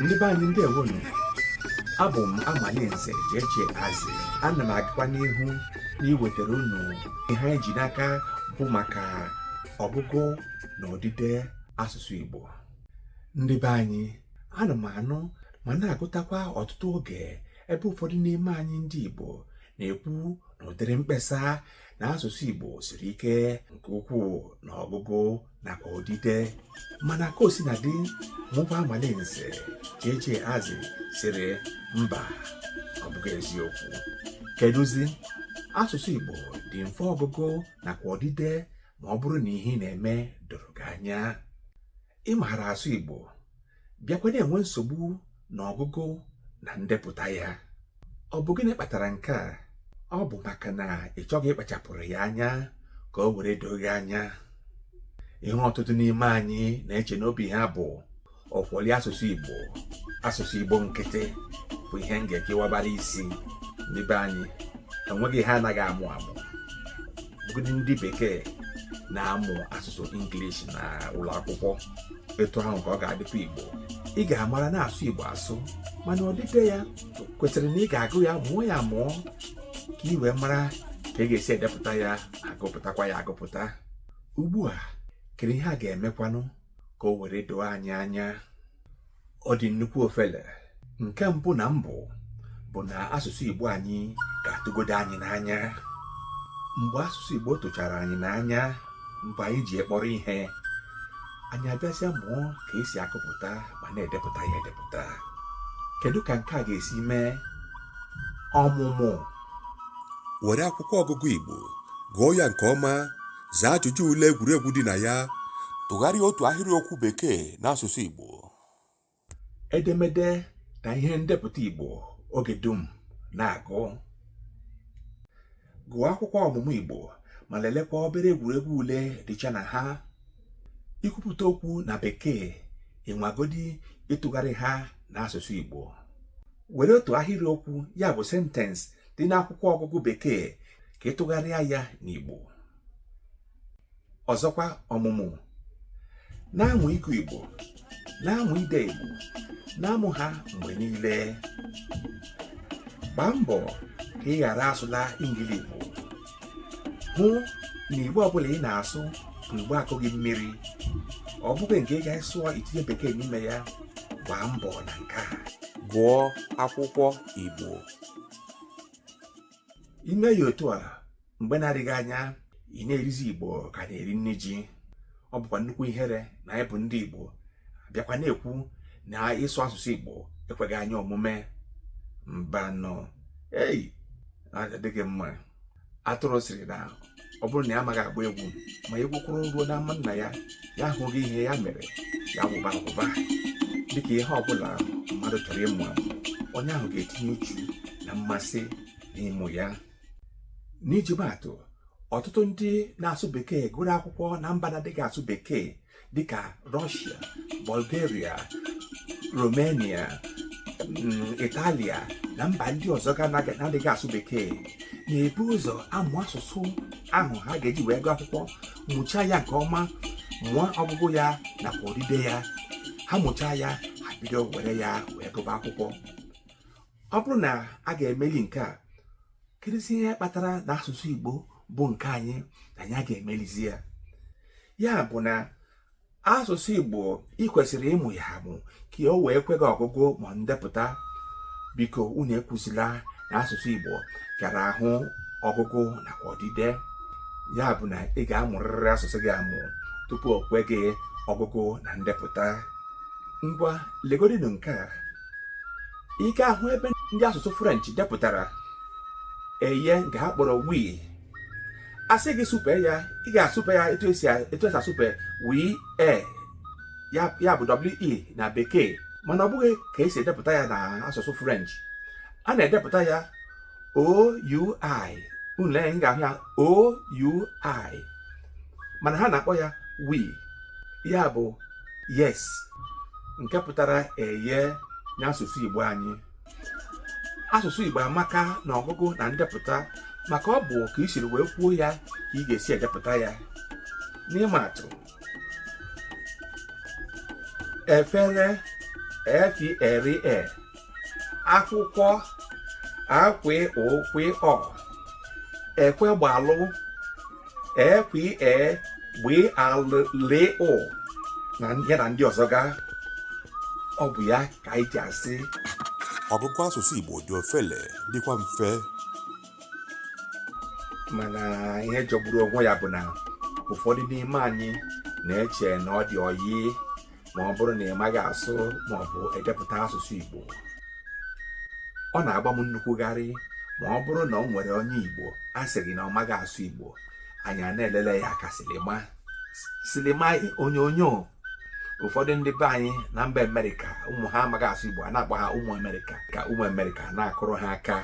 ndị be anyị ndewonu abụ m Amalinze Jeje Azị ana m agakwa n'ihu n'iwetara unu ihe anyị ji n'aka bụ maka ọgụgụ na odide asụsụ Igbo ndị be anyị ana m anụ ma na-agụtakwa ọtụtụ oge ebe ụfọdụ n'ime anyị ndị Igbo na-ekwu na ụdịrị mkpesa na asụsụ Igbo siri ike nke ukwuu na ọgụgụ nakwa odide mana ka o sina dị mụ bụ Amalinze Jeje Azị sịrị mba ọ bụghị eziokwu kedụzi asụsụ Igbo dị mfe ọgụgụ nakwa odide ma ọ bụrụ na ihe ị na-eme doro gị anya ị maara asụ Igbo bịakwa na-enwe nsogbu na ọgụgụ na ndepụta ya ọ bụ gịnị kpatara nke a ọ bụ maka na ị chọghị ịkpachapụrụ ya anya ka o were doo gị anya ihe ọtụtụ n'ime anyị na-eche n'obi ha bụ ọkwọli asụsụ Igbo asụsụ Igbo nkịtị bụ ihe m ga-ekewabara isi ndị be anyị o nweghị ihe anaghị amụ amụ bụgodị ndị bekee na-amụ asụsụ English na ụlọ akwụkwọ etu ahụ ka ọ ga-adịkwa Igbo ị ga-amara na-asụ Igbo asụ mana odide ya kwesịrị na ị ga-agụ ya mụọ ya amụọ ka i wee mara ka ị ga-esi edepụta ya agụpụtakwa ya agụpụta ugbu a kedu ihe a ga-emekwanụ ka o were doo anyị anya ọ dị nnukwu ofele nke mbụ na mbụ bụ na asụsụ Igbo anyị ga-atụgodo anyị n'anya mgbe asụsụ Igbo tụchara anyị n'anya mgbe anyị ji ya kpọrọ ihe anyị abịazịa mụọ ka e si agụpụta ma na-edepụta ya edepụta kedu ka nke a ga-esi mee ọmụmụ were akwụkwọ ọgụgụ Igbo gụọ ya nke ọma Zaa ajụjụ ule egwuregwu dị na ya. Tụgharịa otu ahịrịokwu Bekee n'asụsụ Igbo. Edemede na ihe ndepụta Igbo oge dum na-agụ. Gụọ akwụkwọ ọmụmụ Igbo ma lelekwa obere egwuregwu ule dịcha na ha. I kwupụta okwu na Bekee ị nwagodi ịtụgharị ha n'asụsụ Igbo. were otu ahịrịokwu ya bụ sentensị dị n'akwụkwọ ọgụgụ bekee ka ị tụgharịa ya n'Igbo ọzọkwa ọmụmụ na-amụ ịgụ Igbo na-amụ ide Igbo na-amụ ha mgbe niile gbaa mbọ ka ị ghara asụla Engligbo hụ na igbo ọbụla ị na-asụ bụ igbo akụghị mmiri ọ bụghị nke ị ga-asụ itinye bekee n'ime ya gbaa mbọ na nke a gụọ akwụkwọ igbo i mee ya otu a mgbe na-adịghị anya ị na-erizi igbo ka a na-eri nri ji ọ bụkwa nnukwu ihere na anyị bụ ndị igbo bịakwa na-ekwu na ịsụ asụsụ igbo ekweghị anyị omume mbanụ ei adịghị mma atụrụ sịrị na ọ bụrụ na ya amaghị agba egwu ma egwu kụrụ ruo na ama nna ya ya ahụghị ihe ya mere ya wụba awụba dịka ihe ọbụla mmadụ chọrọ ịmụ amụ onye ahụ ga-etinye uchu na mmasị n'ịmụ ya n'iji maa atụ ọtụtụ ndị na-asụ bekee gụrụ akwụkwọ na mba na-adịghị asụ bekee dịka Rọshia Bulgaria Romania Italia na mba ndị ọzọ ga na-adịghị asụ bekee na-ebu ụzọ amụ asụsụ ahụ ha ga-eji wee gụọ akwụkwọ mụchaa ya nke ọma mụọ ọgụgụ ya nakwa odide ya ha mụchaa ya ha bido were ya wee gụba akwụkwọ ọ bụrụ na a ga-emeli nke a kedụzi ihe kpatara na asụsụ Igbo bụ nke anyị na anyị a ga-emelizi ya ya bụ na asụsụ igbo ị kwesịrị ịmụ ya amụ ka o wee kwe gị ọgụgụ ma ndepụta biko unu ekwuzila na asụsụ igbo rara ahụ ọgụgụ nakwa odide ya bụ na ị ga-amụrịrị asụsụ gị amụ tupu o kwe gị ọgụgụ na ndepụta ngwa legodinu nke a ị ga-ahụ ebe ndị asụsụ french depụtara eye nke ha kpọrọ wii a sị gị sụpe ya ị ga-asụpe ya etu esi asụpe we e ya bụ we na bekee mana ọ bụghị ka esi edepụta ya na asụsụ french a na-edepụta ya oui unu lee unu ga-ahụ ya oui mana ha na-akpọ ya we ya bụ yes nke pụtara eye n'asụsụ Igbo anyị asụsụ Igbo amaka na ọgụgụ na ndepụta maka ọ bụ ka i siri wee kwuo ya ka ị ga-esi edepụta ya n'ịma atụ efere e f e r e akwụkwọ a kw ụ kw ọ ekwegbalụ e kw e gb a l ụ na ya na ndị ọzọ ga ọ bụ ya ka anyị ji asị ọgụgụ asụsụ igbo dị ofele dịkwa mfe mana ihe jọgburu onwe ya bụ na ụfọdụ n'ime anyị na-eche na ọ dị oyi ma ọ bụrụ na ị maghị asụ ma ọ bụ edepụta asụsụ igbo ọ na-agba m nnukwu gharị ma ọ bụrụ na o nwere onye igbo a sị gị na ọ maghị asụ igbo anyị a na-elele ya ka silima silima onyonyo ụfọdụ ndị be anyị na mba amerịka ụmụ ha amaghị asụ igbo a na-akpọ ha ụmụ amerịka ka ụmụ amerịka na-akụrụ ha aka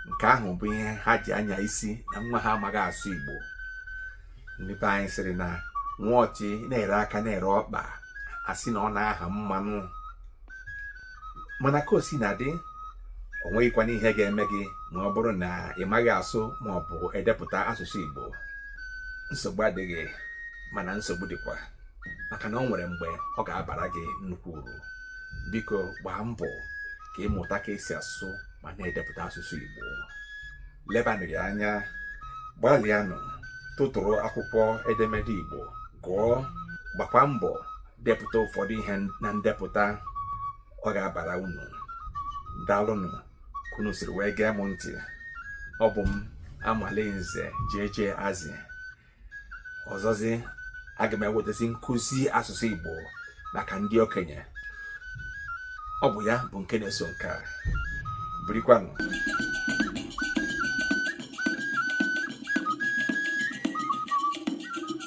nke ahụ bụ ihe ha ji anya isi na nwa ha amaghị asụ igbo ndị be anyị sịrị na nwa ọchị na-ere aka na-ere ọkpa asị na ọ na-aha mmanụ mana ka o sina dị o nweghịkwana ihe ga-eme gị ma ọ bụrụ na ị maghị asụ ma ọ bụ edepụta asụsụ Igbo nsogbu adịghị mana nsogbu dịkwa maka na o nwere mgbe ọ ga-abara gị nnukwu uru biko gbaa mbọ ka ị mụta ka esi asụ ma na-edepụta asụsụ Igbo lebanụ ya anya gbalịanụ tụtụrụ akwụkwọ edemede Igbo gụọ gbakwa mbọ depụta ụfọdụ ihe na ndepụta ọ ga-abara unu daalụnụ ka unu siri wee gee m ntị ọ bụ m amalinze jeje azị ọzọzi aga m ewetazi nkụzi asụsụ igbo maka ndị okenye ọ bụ ya bụ nke na-eso nke a birikwanụ